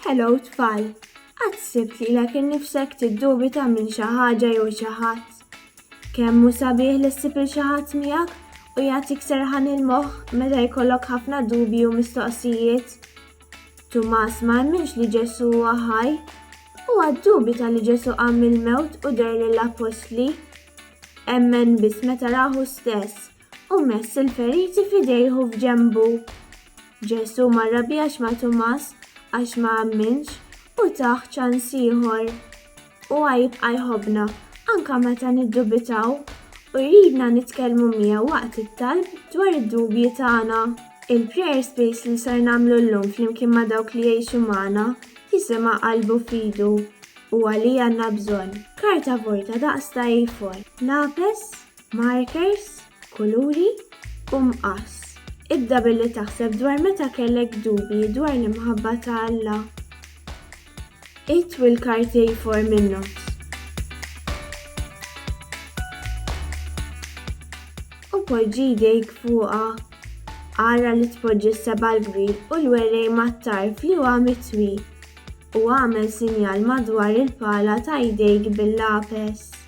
Hello tfal, qatt sibt lilek innifsek tiddubita minn xi ħaġa jew xi ħadd? Kemm hu sabiħ li ssib il xi ħadd miegħek u jagħtik serħan il-moħħ meta jkollok ħafna dubji u mistoqsijiet? Tumas ma emminx li Ġesù huwa ħaj. Huwa ddubita li Ġesù qam mill-mewt u der lill-appostli. Emmen biss meta rahu stess U mess il-feriti f'idejh u f'ġenbu. Ġesù ma rrabjax ma' Tumas għax ma amminx u tah ċans ieħor. Huwa jibqa' jħobbna anke meta niddubitaw u jridna nitkellmu miegħu waqt it-talb dwar id-dubji tagħna. Il-Prayer Space li ser nagħmlu llum flimkien ma' dawk li jgħixu magħna jisimha Qalbu f'idu, Huwa li għandna bżonn. Karta vojta daqs ta' A4. Lapes. markers, kuluri, u mqass. Ibda billi taħseb dwar meta kellek dubji dwar l-imħabba ta' Alla. Itwi l-karti jfor min-nofs. U poġġi jdejk fuqha. Ara li tpoġġi s-seba' l-bri u l-werej mat-tarf li huwa mitwi u għamel sinjal madwar il-pala ta' jdejk bil-lapes.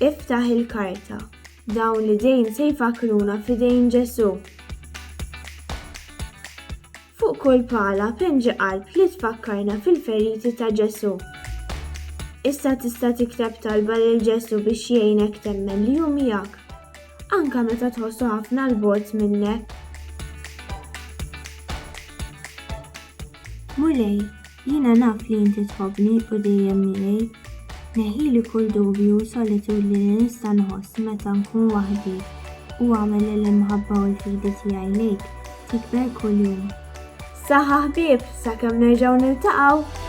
Iftaħ il-karta. Dawn l-idejn se jfakkruna f'idejn Ġesù. Fuq kull pala penġi qalb li tfakkarna fil-feriti ta' Ġesù. Issa tista' tikteb talba lil Ġesù biex jgħinek temmen li hu miegħek, anke meta tħossu ħafna l-bogħod minnek. Mulej, Jiena naf li inti tħobbni u dejjem miegħi. Neħħili kull dubju u solitudni li nista' nħoss meta nkun waħdi u agħmel li l-imħabba u l-fidi tiegħi lejk tikber kuljum. Saħħa ħbieb sakemm nerġgħu niltaqgħu!